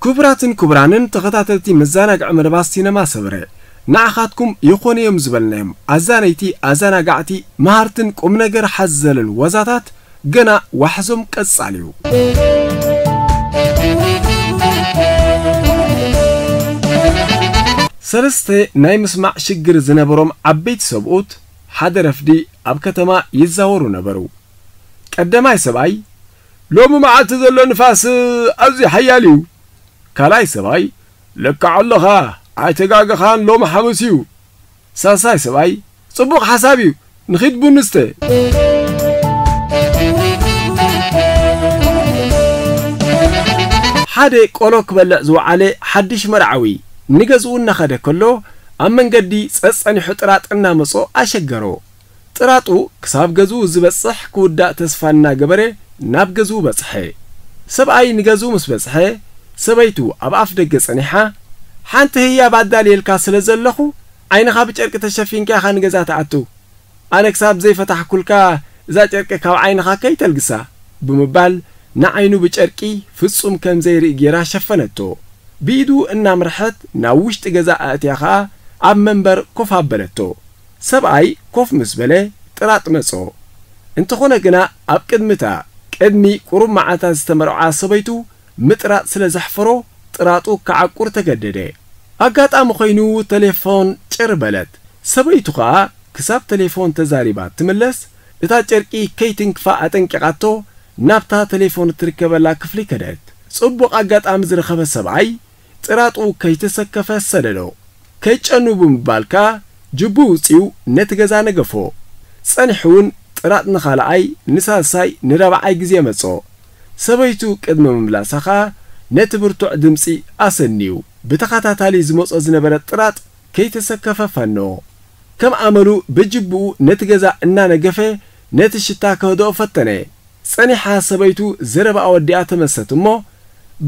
ክቡራትን ክቡራንን ተኸታተልቲ መዛናግዒ መደባት ሲነማ ሰመረ ንዓኻትኩም ይኾኑ እዮም ዝበልናዮም ኣዛነይቲ ኣዛናጋዕቲ መሃርትን ቁምነገር ሓዘልን ዋዛታት ገና ዋሕዞም ቀጻሊ እዩ። ሰለስተ ናይ ምስማዕ ሽግር ዝነበሮም ዓበይቲ ሰብኡት ሓደ ረፍዲ ኣብ ከተማ ይዛወሩ ነበሩ። ቀደማይ ሰብኣይ ሎሚ መዓልቲ ዘሎ ንፋስ ኣዝዩ ሓያል እዩ። ካልኣይ ሰብኣይ፣ ልክዕ ኣሎኻ፣ ኣይተጋገኻን፣ ሎሚ ሓሙስ እዩ። ሳልሳይ ሰብኣይ፣ ጽቡቕ ሓሳብ እዩ፣ ንኺድ ቡን ንስተ። ሓደ ቆሎ ክበልዕ ዝወዓለ ሓድሽ መርዓዊ፣ ንገዝኡ እናኸደ ከሎ፣ ኣብ መንገዲ ጸጸኒሑ ጥራጥ እናመጾ ኣሸገሮ። ጥራጡ ክሳብ ገዝኡ ዝበጽሕ ክውዳእ ተስፋ እናገበረ ናብ ገዝኡ በጽሐ። ሰብኣይ ንገዝኡ ምስ በጽሐ፣ ሰበይቱ ኣብ ኣፍ ደገ ጸኒሓ፣ ሓንቲ ህያብ ኣዳልየልካ ስለ ዘለኹ፣ ዓይንኻ ብጨርቂ ተሸፊንካ ኢኻ ንገዛ ትኣቱ። ኣነ ክሳብ ዘይፈታሕኩልካ እዛ ጨርቂ ካብ ዓይንኻ ከይተልግሳ። ብምባል ንዓይኑ ብጨርቂ ፍጹም ከም ዘይርኢ ገይራ ሸፈነቶ። ብኢዱ እናምርሐት ናብ ውሽጢ ገዛ ኣእትያ ከኣ ኣብ መንበር ኮፍ ኣበለቶ። ሰብኣይ ኮፍ ምስ በለ ጥራጥ መጾ። እንተኾነ ግና ኣብ ቅድሚ እታ ቅድሚ ቁሩብ መዓልታት ዝተመርዓ ሰበይቱ ምጥራጥ ስለ ዘሕፈሮ ጥራጡ ክዓቁር ተገደደ። ኣጋጣሚ ኮይኑ ተሌፎን ጭር በለት። ሰበይቱ ከኣ ክሳብ ተሌፎን ተዛሪባ እትምለስ እታ ጨርቂ ከይትንክፋ ኣጠንቂቓቶ ናብታ ተሌፎን እትርከበላ ክፍሊ ከደት። ጽቡቕ ኣጋጣሚ ዝረኸበ ሰብኣይ ጥራጡ ከይተሰከፈ ሰደዶ። ከይጨኑ ብምባል ከኣ ጅቡ ውጺኡ ነቲ ገዛ ነገፎ። ጸኒሑውን ጥራጥ ንኻልኣይ፣ ንሳልሳይ፣ ንራብዓይ ግዜ መጾ። ሰበይቱ ቅድሚ ምምላሳ ከኣ ነቲ ብርቱዕ ድምጺ ኣሰንዩ ብተኸታታሊ ዝመጾ ዝነበረ ጥራጥ ከይተሰከፈ ፈነዎ። ከም ኣመሉ ብጅቡኡ ነቲ ገዛ እናነገፈ ነቲ ሽታ ከህድኦ ፈተነ። ጸኒሓ ሰበይቱ ዘረባኣ ወዲኣ ተመልሰት እሞ፣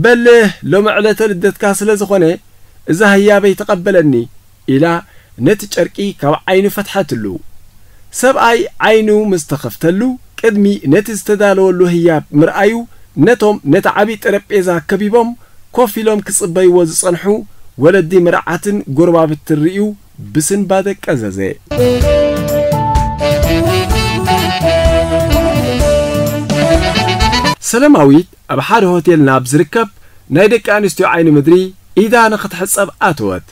በልህ ሎሚ ዕለተ ልደትካ ስለ ዝኾነ እዛ ህያበይ ተቐበለኒ፣ ኢላ ነቲ ጨርቂ ካብ ዓይኑ ፈትሐትሉ። ሰብኣይ ዓይኑ ምስ ተኸፍተሉ ቅድሚ ነቲ ዝተዳለወሉ ህያብ ምርኣዩ ነቶም ነቲ ዓቢ ጠረጴዛ ከቢቦም ኮፍ ኢሎም ክጽበይዎ ዝጸንሑ ወለዲ መርዓትን ጎረባብትን ርእዩ ብስንባ ደቀ ዘዜ። ሰለማዊት ኣብ ሓደ ሆቴል ናብ ዝርከብ ናይ ደቂ ኣንስትዮ ዓይኒ ምድሪ ኢዳ ንኽትሕጸብ ኣተወት።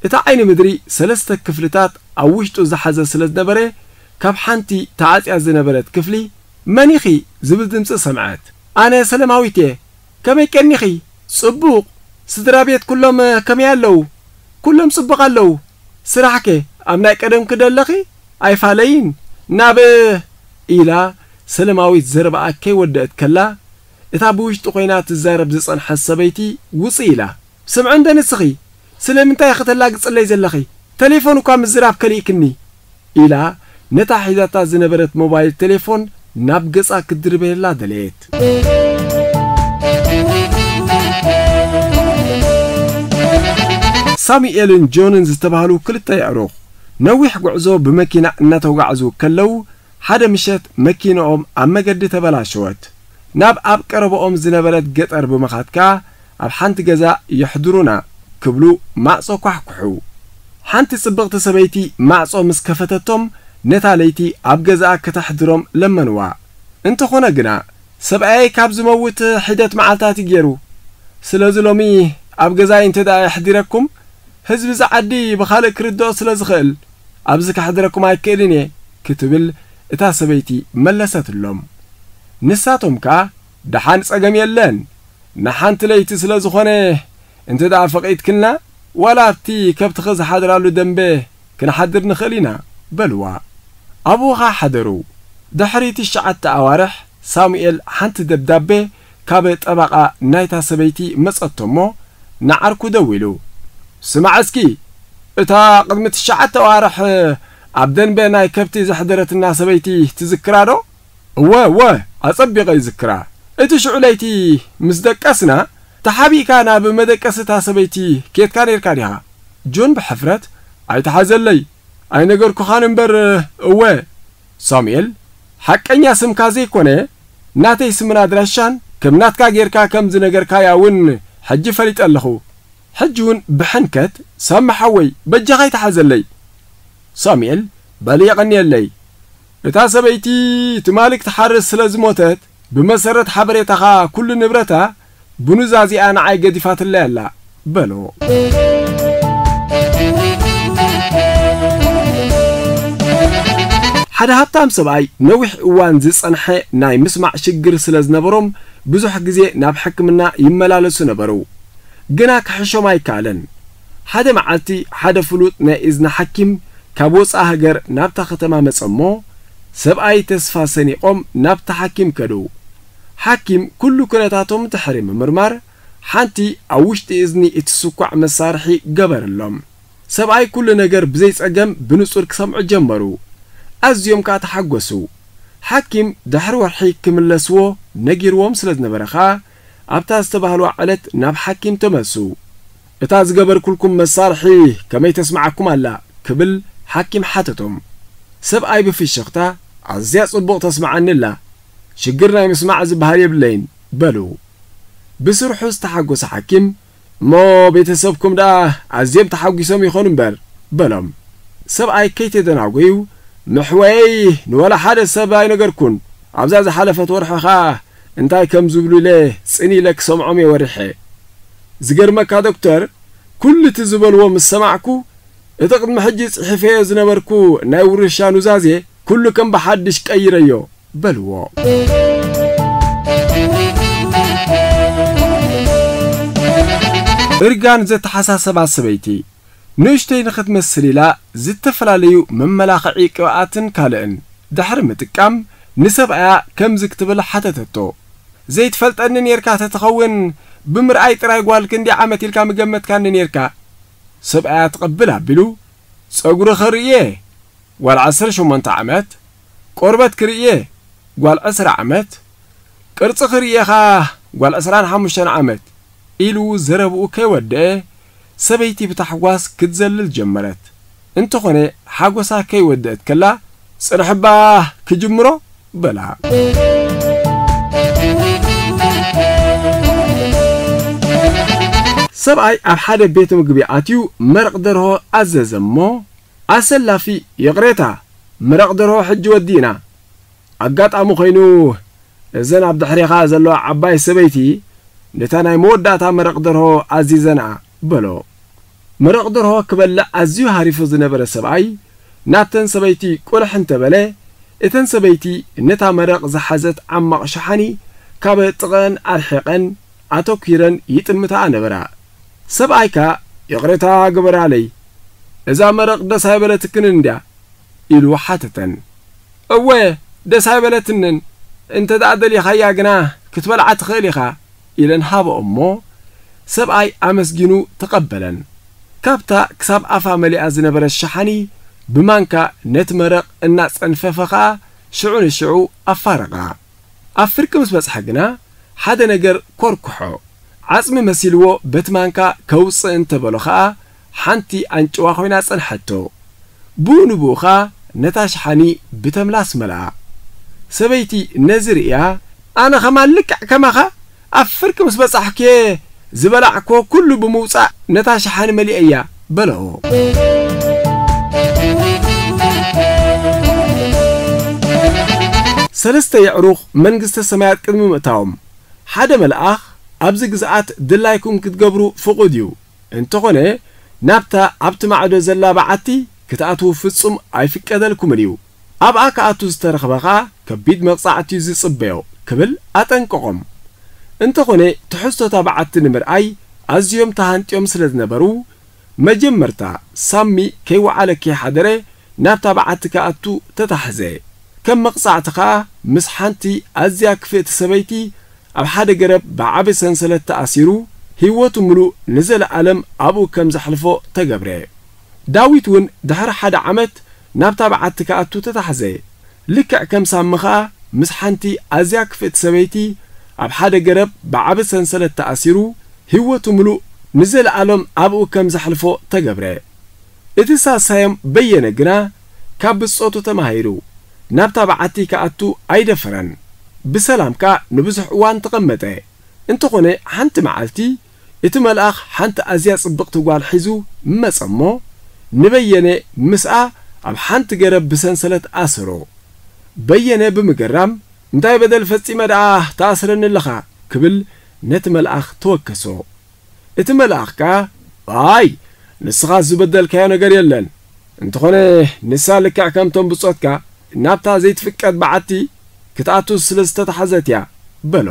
እቲ ዓይኒ ምድሪ ሰለስተ ክፍልታት ኣብ ውሽጡ ዝሓዘ ስለ ዝነበረ፣ ካብ ሓንቲ ተዓጽያ ዝነበረት ክፍሊ፣ መን ኢኺ? ዝብል ድምጺ ሰምዐት። ኣነ ሰለማዊት'የ። ከመይ ቀኒኺ ጽቡቅ ስድራ ቤት ኩሎም ከመይ ኣለዉ ኩሎም ጽቡቅ ኣለዉ ስራሕ ከ ኣብ ናይ ቀደምኪ ዶ ኣለኺ ኣይፋለይን ናብ ኢላ ሰለማዊት ዘረባኣ ከይ ወደእት ከላ እታ ብውሽጢ ኮይና ትዛረብ ዝጸንሐት ሰበይቲ ውጺ ኢላ ስምዒ እንደ ንስኺ ስለምንታይ ኢኺ ተላግጽለይ ዘለኺ? ተሌፎን እኳ ምዝራብ ከሊእክኒ! ኢላ ነታ ሒዛታ ዝነበረት ሞባይል ተሌፎን ናብ ገጻ ክትድርበየላ ደለየት። ሳሙኤልን ጆንን ዝተባህሉ ክልተ የዕሩኽ፣ ነዊሕ ጉዕዞ ብመኪና እናተጓዕዙ ከለዉ፣ ሓደ ምሸት መኪንኦም ኣብ መገዲ ተበላሸወት። ናብ ኣብ ቀረባኦም ዝነበረት ገጠር ብምኻድ ከኣ፣ ኣብ ሓንቲ ገዛ የሕድሩና ክብሉ ማዕጾ ኳሕኩሑ። ሓንቲ ጽብቕቲ ሰበይቲ ማዕጾ ምስ ከፈተቶም ነታ ለይቲ ኣብ ገዛኣ ከተሕድሮም ለመንዋ። እንተኾነ ግና ሰብኣየይ ካብ ዝመውት ሒደት መዓልታት እዩ ጌሩ። ስለዚ ሎሚ ኣብ ገዛይ እንተድኣ የሕዲረኩም ህዝቢ እዛ ዓዲ ብኻልእ ክርድኦ ስለ ዝኽእል ኣብዚ ከሕድረኩም ኣይክእልን እየ ክትብል እታ ሰበይቲ መለሰትሎም። ንሳቶም ከኣ። ደሓን ጸገም የለን ንሓንቲ ለይቲ ስለ ዝኾነ እንተ ደኣ ፈቒድክልና ዋላ ኣብቲ ከብትኺ ዝሓድራሉ ደምበ ክንሓድር ንኽእል ኢና በልዋ። ኣብኡ ኸኣ ሓደሩ። ድሕሪ ትሽዓተ ኣዋርሕ ሳሙኤል ሓንቲ ደብዳቤ ካብ ጠበቓ ናይታ ሰበይቲ መጸቶ እሞ ንዓርኩ ደዊሉ ስማዕ እስኪ እታ ቅድሚ ትሽዓተ ኣዋርሕ ኣብ ደንበ ናይ ከብቲ ዘሕደረትና ሰበይቲ ትዝክራዶ? እወ እወ ኣጸቢቐ ይዝክራ። እቲ ሽዑ ለይቲ ምስ ደቀስና፣ ተሓቢእካ ናብ መደቀሲ እታ ሰበይቲ ኬድካ ኔርካ ዲኻ? ጁን ብሕፍረት፣ ኣይትሓዘለይ፣ ኣይነገርኩኻን እምበር እወ። ሳሙኤል፣ ሓቀኛ ስምካ ዘይኮነ፣ ናተይ ስምን ኣድራሻን ከም ናትካ ጌርካ ከም ዝነገርካያ ውን ሕጂ ፈሊጠ ኣለኹ። ሕጂ ውን ብሕንከት፣ ሳሚ ሓወይ፣ በጃኻ ኣይትሓዘለይ። ሳሙኤል፣ በሊ የቐንየለይ። እታ ሰበይቲ ትማሊ ክትሓርስ ስለ ዝሞተት ብመሰረት ሓበሬታኻ ኩሉ ንብረታ ብኑዛዜኣ ንዓይ ገዲፋትለይ ኣላ በሎ። ሓደ ሃብታም ሰብኣይ ነዊሕ እዋን ዝጸንሐ ናይ ምስማዕ ሽግር ስለ ዝነበሮም ብዙሕ ግዜ ናብ ሕክምና ይመላለሱ ነበሩ። ግና ክሕሾም ኣይከኣለን። ሓደ መዓልቲ ሓደ ፍሉጥ ናይ እዝኒ ሓኪም ካብ ወጻኢ ሃገር ናብታ ከተማ መጸ እሞ ሰብኣይ ተስፋ ሰኒቖም ናብቲ ሓኪም ከዱ። ሓኪም ኩሉ ኩነታቶም ድሕሪ ምምርማር ሓንቲ ኣብ ውሽጢ እዝኒ እትስኳዕ መሳርሒ ገበረሎም። ሰብኣይ ኩሉ ነገር ብዘይ ጸገም ብንጹር ክሰምዑ ጀመሩ። ኣዝዮም ከኣ ተሓጎሱ። ሓኪም ድሕሪ ወርሒ ክምለስዎ ነጊርዎም ስለ ዝነበረ ከኣ ኣብታ ዝተባህልዋ ዕለት ናብ ሓኪም ተመልሱ። እታ ዝገበርኩልኩም መሳርሒ ከመይ ተስምዓኩም ኣላ? ክብል ሓኪም ሓተቶም። ሰብኣይ ብፍሽኽታ ኣዝያ ጽቡቕ ተስምዓኒ ኣላ፣ ሽግር ናይ ምስማዕ ዝብሃል የብለይን በሉ። ብስርሑ ዝተሓጎሰ ሓኪም፣ እሞ ቤተሰብኩም ደኣ ኣዝዮም ተሓጒሶም ይኾኑ እምበር፣ በሎም። ሰብኣይ ከይተደናጐዩ፣ መሕወየይ ንወላ ሓደ ሰብ ኣይነገርኩን፣ ኣብዛ ዝሓለፈት ወርሒ ኸኣ እንታይ ከም ዝብሉ ኢለ ጽን ኢለ ክሰምዖም እየ ወሪሐ። ዝገርመካ ዶክተር፣ ኵሉ እቲ ዝበልዎ ምስ ሰማዕኩ፣ እቲ ቕድሚ ሕጂ ጽሒፈዮ ዝነበርኩ ናይ ውርሻ ኑዛዜ ኵሉ ከም ብሓድሽ ቀይረዮ። በልዎ። እርጋን ዘተሓሳሰባ ሰበይቲ፣ ንእሽተይ ንኽትመስል ኢላ ዝተፈላለዩ መመላኽዒ ቅብኣትን ካልእን ድሕሪ ምጥቃም ንሰብኣያ ከምዚ ክትብል ሓተተቶ፣ ዘይትፈልጠኒ ኔርካ ተትኸውን ብምርኣይ ጥራይ ጓል ክንደይ ዓመት ኢልካ ምገመትካኒ ኔርካ? ሰብኣያ ትቕብል ኣቢሉ፣ ጸጉሪ ኸርኢ እየ፣ ጓል ዓሰርተ ሸሞንተ ዓመት፣ ቆርበት ክርእየ ጓል ዕስራ ዓመት፣ ቅርጺ ክርእየኻ ጓል ዕስራን ሓሙሽተን ዓመት ኢሉ ዘረብኡ ከይወደኣ ሰበይቲ ብታሕጓስ ክትዘልል ጀመረት። እንተኾነ ሓጎሳ ከይወደኣት ከላ ጽንሕ'ባ ክጅምሮ በላ። ሰብኣይ ኣብ ሓደ ቤት ምግቢ ኣትዩ መረቕ ደርሆ ኣዘዘ'ሞ፣ ኣሰላፊ ይቕሬታ ምረቕ ደርሆ ሕጂ ወዲእና። ኣጋጣሚ ኮይኑ እዘን ኣብ ድሕሬኻ ዘለዋ ዓባይ ሰበይቲ ነታ ናይ መወዳእታ መረቕ ደርሆ ኣዚዘንኣ በሎ። መረቕ ደርሆ ክበልዕ ኣዝዩ ሃሪፉ ዝነበረ ሰብኣይ ናብተን ሰበይቲ ቁልሕ እንተ በለ እተን ሰበይቲ ነታ መረቕ ዝሓዘት ዓማቕ ሸሓኒ ካብ ጥቐኣን ኣርሒቐን ኣተኲረን ይጥምታኣ ነበራ። ሰብኣይካ ይቕሬታ ግበራለይ እዛ መረቕ ደስ ኣይበለትክንን ድያ? ኢሉ ሓተተን። እወ ደስ ኣይበለትንን፣ እንተድኣ ደሊኻያ ግና ክትበልዓ ትኽእል ኢኻ ኢለን ሃበኦ'ሞ ሰብኣይ ኣመስጊኑ ተቐበለን። ካብታ ክሳብ ኣፋ መሊኣ ዝነበረት ሸሓኒ ብማንካ ነቲ መረቕ እናጸንፈፈ ከኣ ሽዑ ንሽዑ ኣፋረቓ። ኣብ ፍርቂ ምስ በጽሐ ግና ሓደ ነገር ኰርኵሖ። ዓጽሚ መሲልዎ በቲ ማንካ ከውጽእ እንተ በሎ ኸኣ ሓንቲ ኣንጭዋ ዀይና ጸንሐቶ። ብኡ ንብኡ ኸኣ ነታ ሸሓኒ ብተምላስ መልኣ። ሰበይቲ ነዚ ርእያ። ኣነ ኸማን ልክዕ ከማኻ ኣብ ፍርቂ ምስ በጻሕኩ'የ ዝበላዕኩዎ ኩሉ ብምውጻእ ነታ ሸሓኒ መሊኤያ። በሎ። ሰለስተ የዕሩኽ መንግስተ ሰማያት ቅድሚ ምእታዎም፣ ሓደ መልኣኽ፣ ኣብዚ ግዝኣት ድላይኩም ክትገብሩ ፍቑድ እዩ፣ እንተኾነ ናብታ ኣብቲ ማዕዶ ዘላ በዓቲ ክትኣትዉ ፍጹም ኣይፍቀደልኩምን እዩ፣ ኣብኣ ክኣቱ ዝተረኽበ ከኣ ከቢድ መቕጻዕቲ'ዩ ዝጽበዮ ክብል ኣጠንቀቖም። እንተኾነ ትሕዝቶ'ታ በዓቲ ንምርኣይ ኣዝዮም ተሃንጥዮም ስለ ዝነበሩ፣ መጀመርታ ሳሚ ከይወዓለ ከይሓደረ ናብታ በዓቲ ክኣቱ ተታሕዘ። ከም መቕጻዕቲ ከኣ ምስ ሓንቲ ኣዝያ ክፍእቲ ሰበይቲ ኣብ ሓደ ገረብ ብዓቢ ሰንሰለት ተኣሲሩ፣ ህይወቱ ምሉእ ንዘለኣለም ኣብኡ ከም ዘሕልፎ ተገብረ። ዳዊት እውን ድሕሪ ሓደ ዓመት ናብታ በዓቲ ክኣቱ ተታሕዘ። ልክዕ ከም ሳሚ ኸኣ ምስ ሓንቲ ኣዝያ ክፍእቲ ሰበይቲ ኣብ ሓደ ገረብ ብዓቢ ሰንሰለት ተኣሲሩ ህይወቱ ምሉእ ንዘለኣሎም ኣብኡ ከም ዘሕልፎ ተገብረ። እቲ ሳሳዮም በየነ ግና ካብ ብጾቱ ተማሂሩ ናብታ በዓቲ ክኣቱ ኣይደፈረን። ብሰላም ከኣ ንብዙሕ እዋን ተቐመጠ። እንተኾነ ሓንቲ መዓልቲ፣ እቲ መልኣኽ ሓንቲ ኣዝያ ጽብቕቲ ጓል ሒዙ መጸ እሞ፣ ንበየነ ምስኣ ኣብ ሓንቲ ገረብ ብሰንሰለት ኣሰሮ። በየነ ብምግራም፣ እንታይ በደል ፈጺመ ደኣ ትኣስረኒ ኣለኻ? ክብል ነቲ መልኣኽ ተወከሶ። እቲ መልኣኽ ከኣ፣ ኣይ! ንስኻስ ዝበደልካዮ ነገር የለን። እንተኾነ ንሳ ልክዕ ከምቶም ብጾትካ ናብታ ዘይትፍቀድ በዓቲ ክትኣቱ ስለ ዝተታሕዘት እያ በሎ።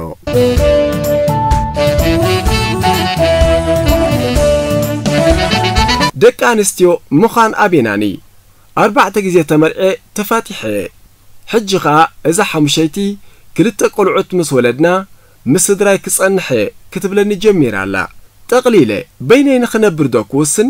ደቂ ኣንስትዮ ምዃን ኣቤናኒ ኣርባዕተ ግዜ ተመርዕየ ተፋቲሐ እየ ሕጂ ከኣ እዛ ሓሙሸይቲ ክልተ ቆልዑት ምስ ወለድና ምስ ስድራይ ክጸንሕ እየ ክትብለኒ ጀሚራ ኣላ ጠቅሊለ በይነይ ንኽነብር ዶ ክውስን